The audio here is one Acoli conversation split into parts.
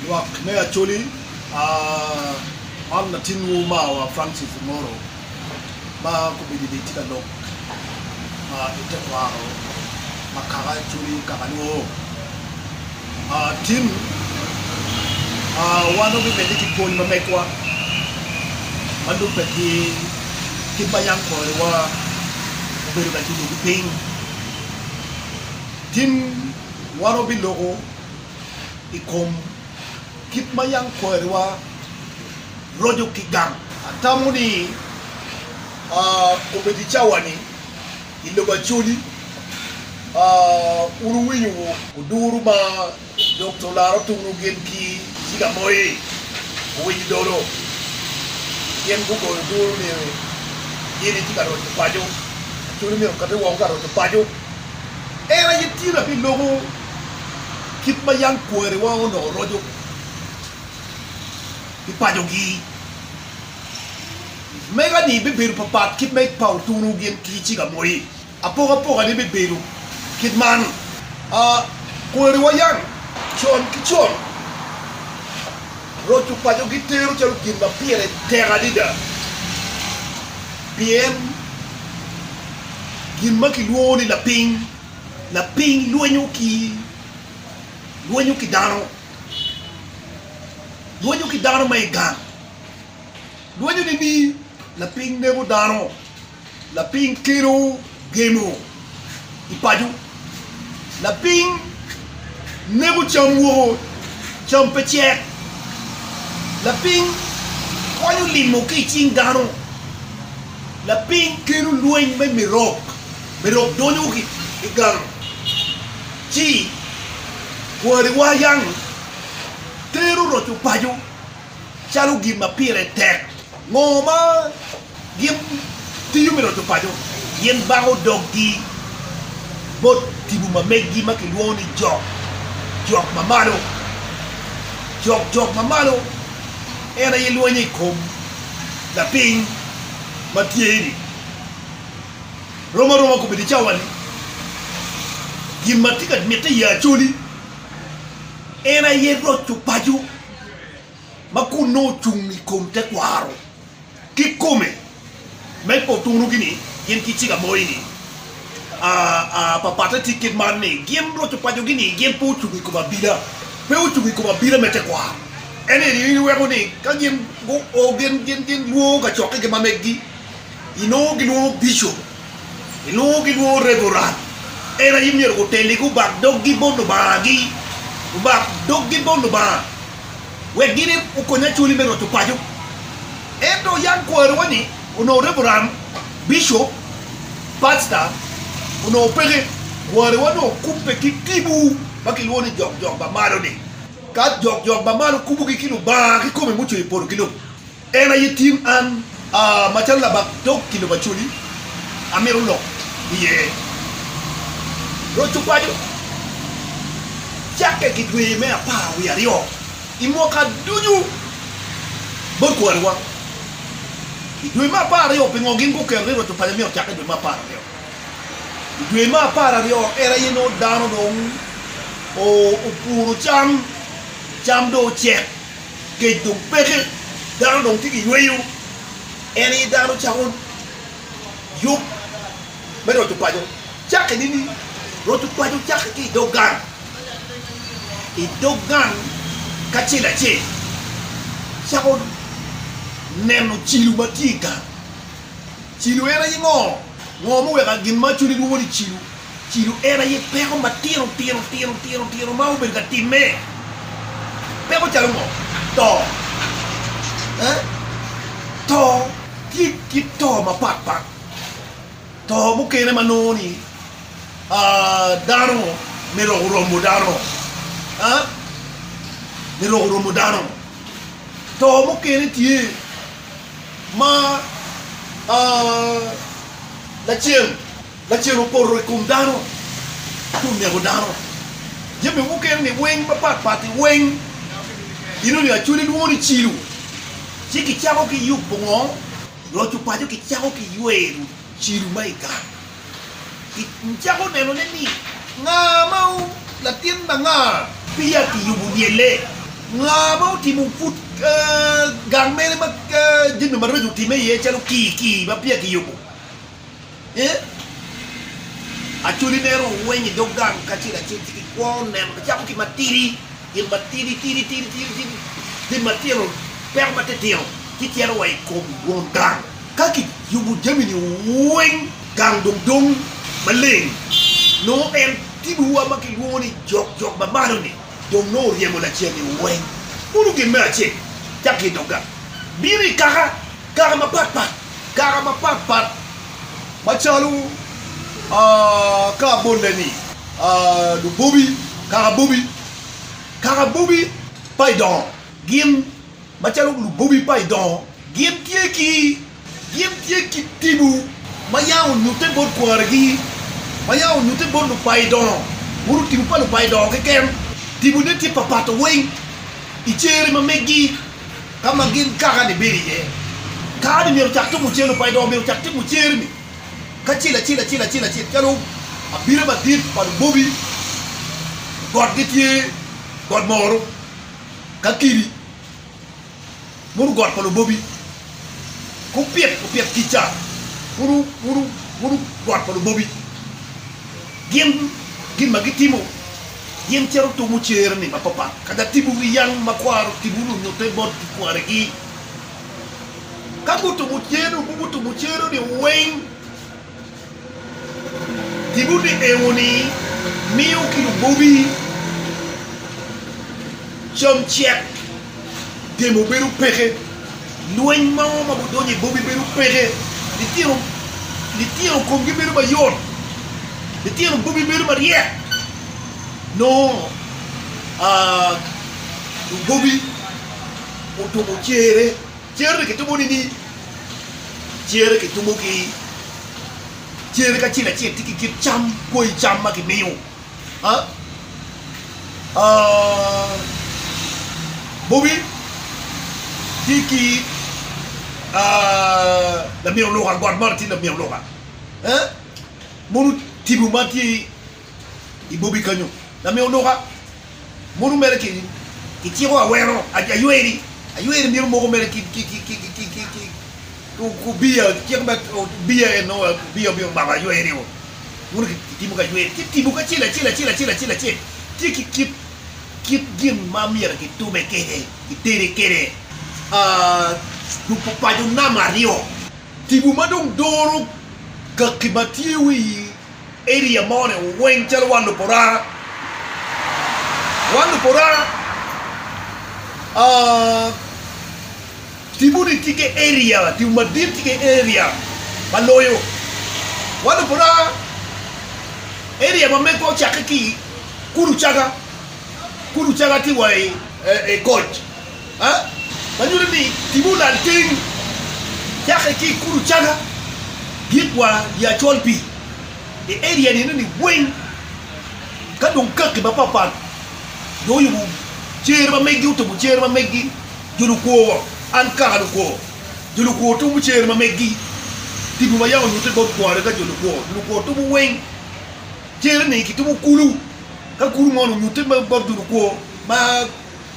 Lwak me Acholi, Man latinwu omarwa Francis Omoro ma kobedo ni tye ka lok ma i tekwaro ma kaka Acholi kaka Luo. Tin wan wabimedde ki pwony ma megwa ma lubbe ki kit ma yam koriwa obedo ka cungo ki piny. Tin. Wan wabiloko i kom kit ma yam kwariwa roco ki gang. Atamo ni obedo i cawa-ni, i lobo Acholi, wun wuwinyo oduru ma Dokta Olaro Otungu gin ki Ciga Moi owinyo dolo. Gin gugoyo oduru ni gin gitye ka roco paco. Acholi myero okati woko ka roco paco. En aye tyen aye loko kit ma yam kwariwa onongo roco i pacogi. Mega-ni bibedo papat kit ma pa otunu gin ki ciga moi. Apokapokane bibedo kit man, Kwariwa yam con ki con. Roco paco gitero calo gin ma pire tek adada pien gin ma kilwongo ni lapiny, lapiny lwenyo ki lwenyo ki dano, lwenyo ki dano ma i gang, lwenyone ni lapiny nego dano. Lapiny kelo gemo i paco. Lapiny neko cam woko, cam pe cek. Lapiny kwanyo limo ki i cing dano. Lapiny kelo lweny me mirok, mirok donyo ki i gang ci kwariwa yang tero roco paco calo gin ma pire tek. Ngo ma Gin tiyo me roco paco gin bango doggi bot tipo ma meggi ma kilwongo ni jok, jok ma malo. Jok, jok ma malo en aye lwenyo i kom lapiny ma tye-ni. Rom aroma okobedi cawa-ni, gin ma tye ka mitte i Acholi en aye roco paco ma konno ocung i kom tekwaro. Kikome, me potunu gi ni gin ki cik amoyi ni, aa, pa patte tye kit man ni, gin roco paco gi ni gin pe ocuko i kom abila, pe ocuko i kom abila me tekwaro. En eni in iweko ni ka gin gu o gin gin gin lwongo kacokke gi mameggi, inongo gilwongo bishop. Gilwongo ki lwongo Reverend. En aye myero guteli gubak doggi bot Lubanga-gi, gubak doggi bot Lubanga wek gin okonye Acholi me roco paco. Ento yam kwariwa ni onongo Reverend, Bishop, Pastor onongo peke. Kwariwa nongo okubbe ki tibu ma kilwongo ni jokjok ba malo-ni. Ka jokjok ba malo kubugi ki Lubanga kikome mucweyo polo ki lobo, En aye tin an, macalo labak dog kilo macoli, amito lok iye. Roc opaco, Cakke ki dwe me apar wiye aryo, i mwaka ducu bot kwariwa, i dwe me apar aryo, pingo gin guketo ni roc opaco myero ocakke i dwe me apar aryo? I dwe me apar aryo en aye nongo dano dong opuro cam, cam dong ocek. Kec dong peke, dano dong tye ki yweyo, en aye dano cako yub me roco paco. Cakke nini? Roco paco cakke ki i dog gang, i dog gang kacel acel cako neno cilo ma tye i gang. Cilo en aye ngo? Ngo muweka gin ma cwinye dwongo ni cilo Cilo en aye peko matino tino tino tino tino ma obedo ka timme. Peko calo ngo? To. Eh? To tye kit to mapat pat. To mukene ma nongo ni aah dano myero oromo dano. Ah? Myero oromo dano. To mukene tye ma aah lacen. Lacen opoto i kom dano ci oneko dano. Jami mukene ni weng mapat pat i weng ino ni Acholi lwongo ni Cilu. Ci ki cako ki yubo ngo? Loco paco ki cako ki ywero Cilu ma i gang. Ki cako neno ne ni nga ma latin ma nga? Peya ki yubo lyelle. Nga ma otimo pud gang mene ma jami maraco otime iye calo kii kii ma peya ki yubo. Ee, acholi mere oweny i dog gang kacel acel ci gikwo neno macako ki matidi, gin matidi tidi tidi tidi tidi, gin matino peko matitino ci cito wa i kom won gang. Ka kiyubo jami-ni weng, gang dong dong maleng. Nongo en tibuwa ma kilwongo ni jok jok ma malo-ni dong nongo oryemo lacen-ni weng. Kuno gin me acel cakki i dog gang bino i kaka kaka mapatpat. Kare mapatpat macalo kaka bolle-ni, lubobi, kakabobi, kakabobi pa i dongo gin macalo lubobi pa i dongo gin tye ki gin tye ki tibu ma yam onyutte bot kwarigi, ma yam onyutte bot lupa i dongo, buru tibu pa lupa i dongo keken. Tibune tye papato weng i cer ma meggi. ka ma gin kaka-ni bedo iye. Kare-ni myero ocak timo cen-nu pa idongo, myero ocak timo cer-ni kacel acel acel acel acel calo abira madit pa lubobi got gitye got moro ka kidi mono got pa lubobi kupit opit kica mono mono mono got pa lubobi gin gin ma gitimo Gin cito tumo cer-ni mapatpat ka gatibo wi yal ma kwaro tibo nyo nyutte bot gikwaregi. Ka gutumo cer-nu, gutumo cer-ni weng. Tibo ni ewo-ni miyo ki lubobi cam cek. temo bedo peke, lweny mo ma gudonyo i boggi bedo peke, litino litino komgi bedo mayot, litino boggi bedo maryek nongo aa lugobi otumo cere, cere-ni kitumo nini? Cere kitumo ki cere kacel acel tye ki kit cam, koi cam ma kimiyo. Bobi tye ki lamin oluka got man tye lamin oluka mogo tipo matye i bobi kenyo lamin oluka. Modo mere keni kiciko awero ayweri, ayweri myero moko mere ki obiya cik ma obiya en nongo obiya obino mako ayweri o, modo kitimo ki ayweri ci tipo kacel acel acel acel acel acel tye ki kit kit gin ma myero kitube kwede kitede kwede duko paco nam aryo. Tipo ma dong doro kaki ma tye wi. Area moni weng calo wan luporara wan luporara tipo ni tye ki area tipo madit tye ki area ma loyo wan luporara area ma megwa ocake ki kulu caga kulu caga tye wa i koc ma nyuto ni timme olal teng cake ki i kulu caga dit wa i Acol Pii i area ni eno ni weng ka dong kaki mapat pat jo oyubo cere ma megi otubo cere ma megi jo lukwo wa an kaka lukwo jo lukwo tubo cere ma megi tipo ma yam onyute bot kwari ka jo lukwo jo lukwo tubo weng cere ni kitubo kulu ka kulu mo ni onyute bot jo lukwo ma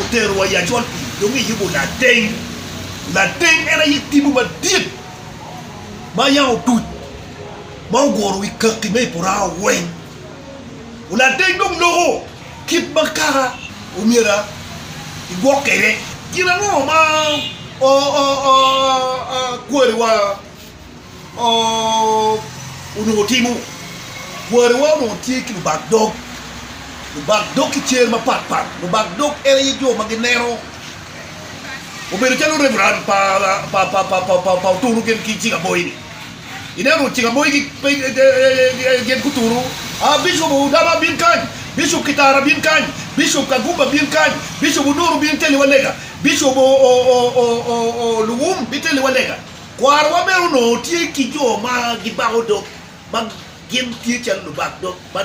oterowa i acol pii dong iyubo lateng. Lateng en aye tipo madit ma yam otuc ma oguro wi kaki me i porao weng. Lateng dong loko kit ma kaka omyero igwok kwede. Gin ango ma kwariwa onongo timo. Kwariwa onongo tye ki lubak dog, lubak dog ki cer mapat pat. Lubak dog en aye jo ma gineno, obedo calo reverend pa oturu gin ki cik aboyi-ni. Ineno cik aboyi gin guturu, aa Bicop Odama bin kany, Bicop Kitara bin kany, Bicop Kagumba bin kany, Bicop Onuru bin teliwa lega, Bicop Luwum biteliwa lega. Kwarwa bene onongo tye ki jo ma gibako dog ma gin tye calo lubak dog ma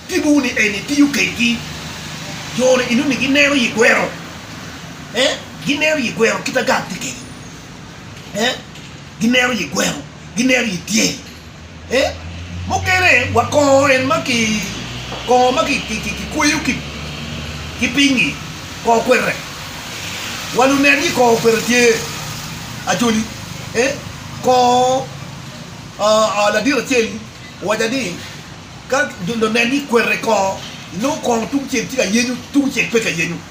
tipowu ni en itiyo kedgi. Jo-ni inongo ni gineno i gweno, ee, gineno i gweno kit ma gang tye kede, ee, gineno i gweno, gineno i tyeng. Ee, mukene wa kongo en ma ki kongo ma kikweyo ki piny-ngi kongo kwete. Wa lunen ni kongo kwete tye ajoli. Ee, kongo ladit acel-li owaca ni ka lunen ni kwete kongo, inongo kongo tungcel tye ka yenyo, tungcel pe ka yenyo.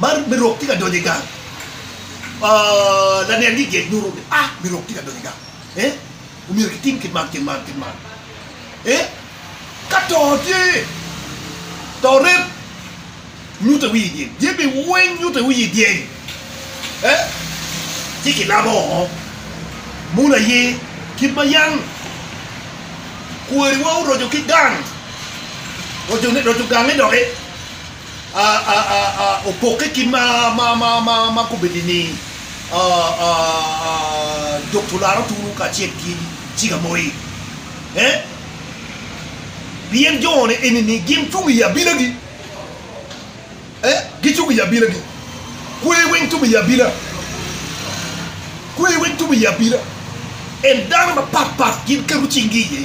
Man me rok tye ka donyo i gang, lanen gigec nyuto ni a me rok tye ka donyo i gang ee omyero kitim kit man kit man kit man ee ka to tye to rem nyute wiye dyeng dyeng bi weng nyute wiye dyeng ee ci kilabo oo munu aye kit ma yam kwariwa oroco ki gang roco gange doki. opokke ki ma kobeddi ni Dokto Laro Tunu kacel ki Ciga Moi, eh? Pien jone enini gin cung i abilagi, eh? Gicung i abilagi. Kwer weng tum i abila, kwer weng tum i abila. En dano mapatpat gin keto cinggi iye.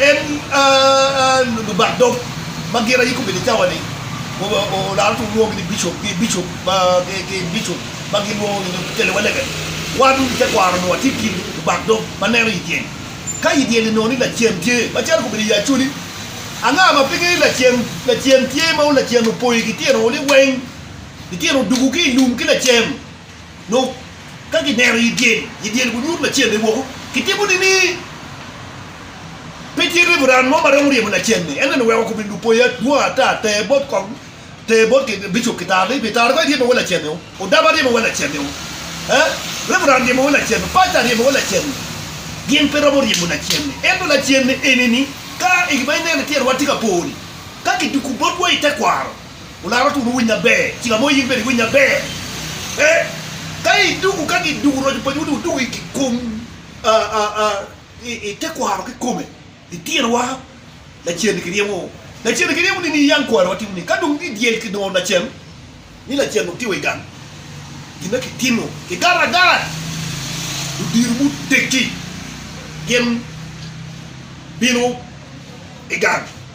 En Lubak dog ma gin ayiko pi licawa-ni olaro tung lwongogi ni bicop ki bicop ma bicop ma gilwongo nyo kikele wa lebe. Wan i tekwaro nongo watye i kin Lubak dog ma neno i dyel. Ka i dyel-li nongo ni lacen tye, macalo kobedo i Acholi, anga ma pe ngeyo lacen lacen tye ma lacen opoyo ki tyen-o ni weng? Lityen odugu ki i lum ki lacen. Dok ka gineno i dyel, i dyel gunyut lacen-ni woko, gitimo nini? Pe tye reverend mo ma romo ryemo lacen-ni, ento ni weko kubin lupoya adwong ata ter bot kong, ter bot bicop ki tar ni, Bitara kong iryemo wa lacen-ni o, Odama ryemo wa lacen-ni o, eh, Reverend ryemo wa lacen-ni, Pastor ryemo wa lacen-ni. Gin pe romo ryemo lacen-ni. Ento lacen-ni eni ni, ka i gin ma ineno i tyen wa tye ka po-ni, ka kituku botwa i tekwaro, Olaro two me winy maber, cik amoyo in bene iwiny maber eh, ka idugu ka gidugu roco pacwu ni wudugu i kom i te kwaro kikome litinowa lacen-ni kiryemo lacen-ni kiryemo ni niyang kwari wa timo ni ka dong ni dyel kidongo lacen ni lacen dong tye wa i gang gin ma kitimo kigara agara ludiro muteggi gin bino i gang.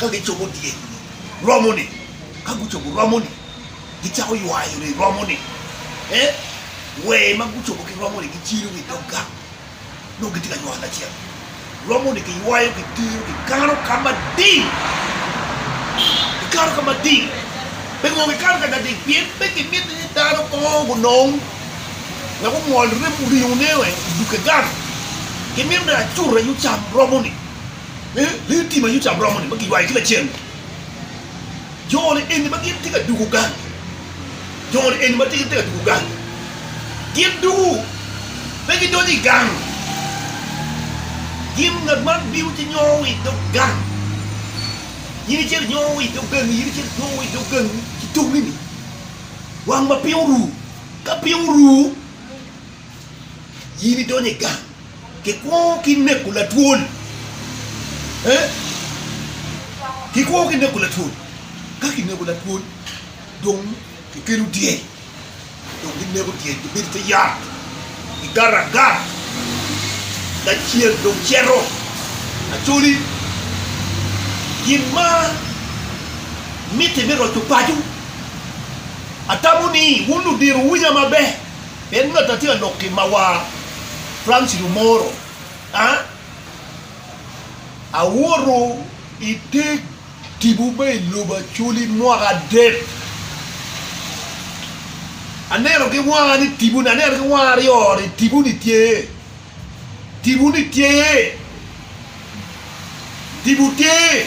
ka gicobo dyekgi romoni, ka gucobo romoni, gicako ywayo ni romoni e wer ma gucobo ki romoni giciro ki i dog gang nongo gitye ka ywayo lacen. Romoni kiywayo kitero kikano ka mading, kikano ka mading. Pi ngo kikano ka mading? Pien pe kimiti ni dano ko gunong wek ongol ringone wek odug ki gang, kimito ni acut aye ocam romoni. Lee tim aye ocamo romo-ni ma kiywayo ki lacen. Jo-ni eni ma gin tye ka dugo gang, jo-ni eni ma gin tye ka dugo gang, gin dugo, pe gidonyo i gang. Gin, ngat man bino ci nyongo wa i dog gang, in icito inyongo wa i dog gangi, in icito inyongo wa i dog gangi ki tongini, wang ma piny oru. Ka piny oru, in idonyo i gang. Kikwo ki neko latwol. Ee, kikwo ki neko latwol. Ka kinego latwol, dong kikelo dyel, dong kineko dyel, kibedo i te yat, kigato agat, lacel dong cito. Acholi, gin ma mitte me roco paco, atamo ni wun ludiro wuwinya maber. En me ta tye lok ki mawa Francis Lumoro a awuto i te tibu me i lobo Acholi mwaka adek. Aneno ki wanga ni tibuni, aneno ki wanga aryo ni tibuni tye. Tipo ni tyer. Tipo tyer.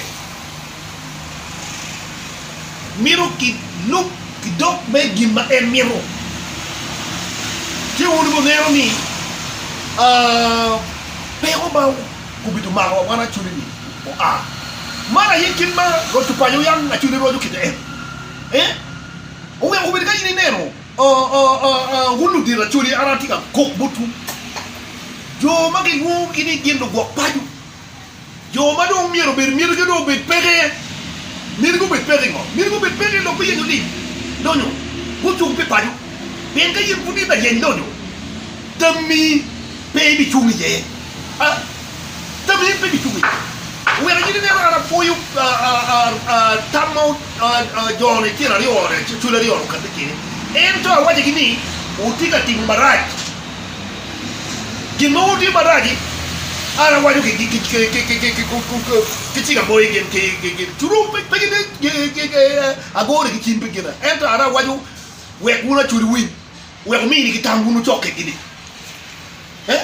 Mito ki lub ki dok me gin ma en mito. Ci wun wuneno ni peko ma gubido mako wa wan acoli ni oa. Man aye kit ma Rwot Cupayo yam acoli rwaco kite en. Ee, oweko wun kadi ni ineno. Wun ludito acholi, an atye ka kok botwu, jo ma gilwongogi ni gin lugwok paco, jo ma dong myero obed myetogi dong obed peko iye. Myetogi obed peko i ngo? Myetogi obed peko i lok me yenyo lim lonyo mucung pi paco. Pien ka in pud in layeny lonyo, tammi Pe ibicung iye. Tammi, pe ibicung iye. Oweko nyinge ni ero, an apwoyo tam ma jone tyen aryo-ni, acwali aryo-ni okatti kwede. Ento awacogi ni, Wutye ka timo marac. Gin ma wutye marac-ci, an awaco ki cing amoyo gin, culu pe gin ni agone ki cim pi gina, ento an awaco wek wun acwali wuwiny. wek wuminigi tam wun wucokke-gi-ni, eh,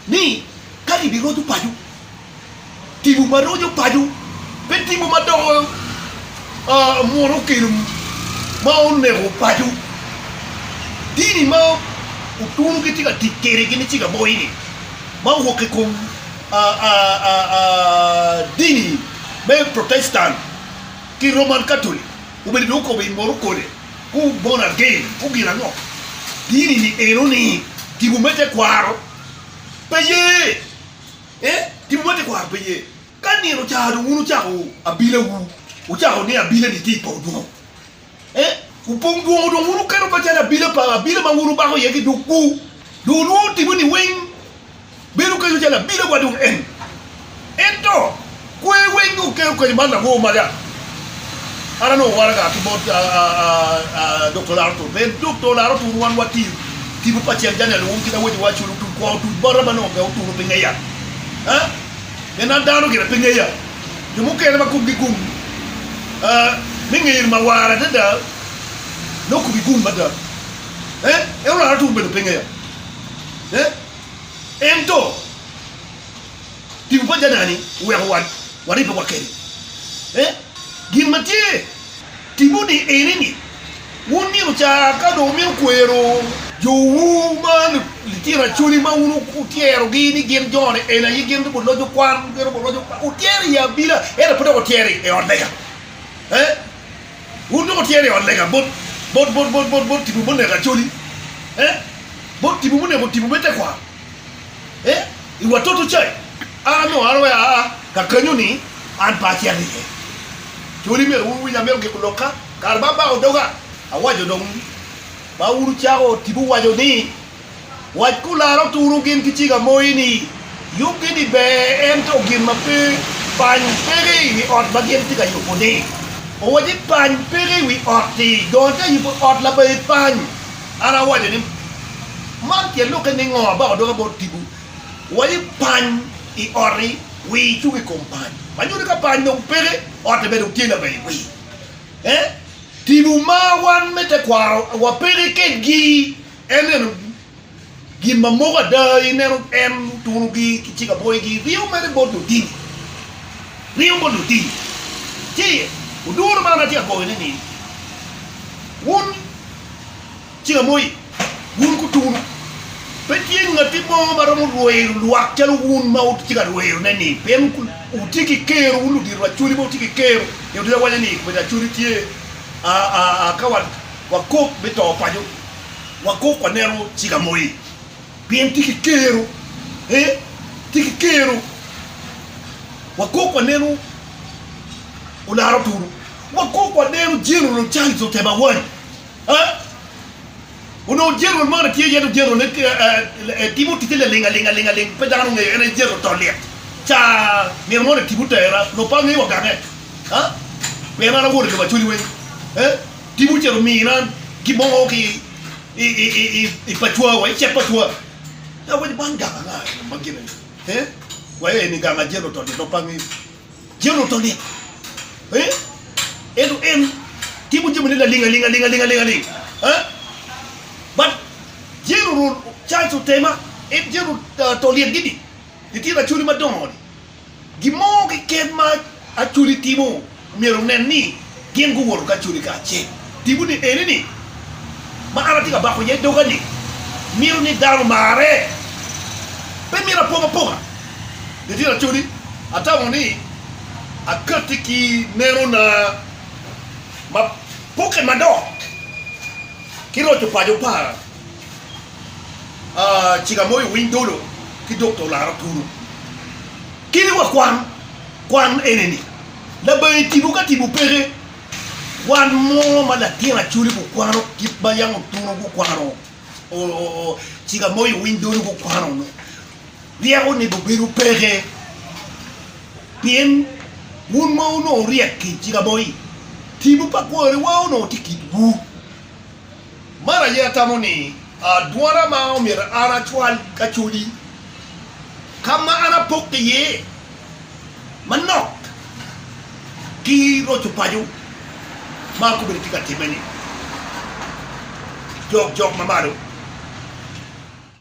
ni ka gibiroco paco tipo ma roco paco, pe tipo ma doko munu okelo ma oneko paco, dini ma otunu gitye ka tic kwede gin icik aboyi-ni, ma owok i kom dini me Protestant ki Roman Katolic. Obedo ni okobo i moro kode, Who born again? Who gin ango? Dini ni eno ni tipo me tekwaro pe ye eh tipo me tekwaro pe ye ka nino ocar dong wun wucako abila wu wucako ni abila ni tye i pong dwongo eh wu pong dwongo dong wun wuketo macalo abila pa abila ma wun wubako iye ki duk wu dong wulwongo tipo ni weng Bedo kenyo calo abila wa dong en. Ento kwer weng dong kelo kenyo man lango mada? An anongo waraga ki bot Dokta Laro Tur pien Dokta Laro Tur wan watye tipo pa Ceng Janya Luwum kit awaco wa calo otuc kwong otuc bota ma nongo pe oturo pe ngeya pien an dano gire pe ngeya jo mukene ma komgi gung me ngeri mawar adada nongo komgi gung mada en Laro Tur bene pe ngeya. Ento, tipo pa Janani oweko waribbe wa kene. Gin ma tye tipo-ni ene ni, wun nino ca ka dong wumito kwero, jowu ma litino acholi ma wun wutyerogi ni gin joni eni aye gin dong guloc okwan, gin dong guloc, wutyero i abila ento pe dok wutyero i ot lega. Wun dong wutyer i ot lega bot bot tipo muneko Acholi, eh, bot tipo muneko tipo me tekwaro, eh, i wa toto cai, ara me ora wai aa ka kenyo ni an pe acito iye. Acholi myero wun wuwiny amito giko lok ka, kare ma abako doga awaco dong ma wun wucako tipo waco ni, Wac kulara oturo gin ki cik amoyi ni, Yubgi ni ber, ento gin ma pe pany peke i wi ot ma gin tye ka yubo-ni. Owaco ni, Pany peke i wi ot-ti, dong atye ka yubo ot labayi pany. An awaco ni, Man tye lokke ningo? Abako doga bot tipo. Owaco ni, Pany i ot-ti, wi icuk i kom pany. Ma nyuto ni ka pany dong peke, ot-ti bene dong tye labayi wi. Tipo ma wan me tekwaro wa peke kedgi. En neno gin ma moko ada, i neno en oturo gi ki cik aboyi gi ringo mere bot lutini, ringo bot lutini ci oduro man atye ka goyo ne ni wun cik amoyi wun guturo pe tye ngati mo ma romo rwero lwak calo wun ma wutye ka rwero ne ni pien wutye ki kero wun ludito Acholi ma wutye ki kero, nyo dito awaco ni komiti Acholi tye a a a ka wa Wakok me to paco, wakok waneno ciga moye, pien tye ki kero, ee, tye ki kero. Wakok waneno olaro tulu, wakok waneno General Charles Otema Awany, ee, onongo General man tye iye dong General-le ee, timo ticce laling aling aling aling, pe dano ongeyo en aye General to lyet, ca nino moni Tipo otera, lubbe angeyo wagangge, aa, pien an awot i lobo Acholi weng, ee. Tipo ocito mina gin mo ki i pacwa wa, i cet pacwa. Ka weko bang gang anga i ma gine ni? Wa eni gang a Jeru Tolit dong pangi. Jeru Tolit eh? Ento en timo jami ne laling aling aling aling aling aling eh? But Jeru Charles Otema en Jeru Tolit gini litino acholi madongo ni. Gin mo keken ma Acholi timo myero onen ni gin guwoto ki Acholi kacel. Timone eni ni, ma an atye ka bako iye doga-ni, mito ni dano omarre. Pe myero apong aponga. Litino Acholi, atamo ni akatti ki nenona ma pokke madok ki roco paco pa. Cika moyo winy dolo ki dok to laro puro. Kene wa kwan, kwan ene ni, labangi tipo ka tipo peke, kwan mo ma latin acoli gukwano, kit ma yam otuno gukwano, cika moyo winy dolo gukwano no, ryeko onego bedo peke, pien wun ma wunongo ryek ki cika moyi, tipo pa kwariwa onongo tye kitwu. Man aye atamo ni adwona ma omyero an acwal ka codi, ka ma an apok iye manok ki roco paco ma akobbe ni tye ka timme-ni. Jok jok ma malo.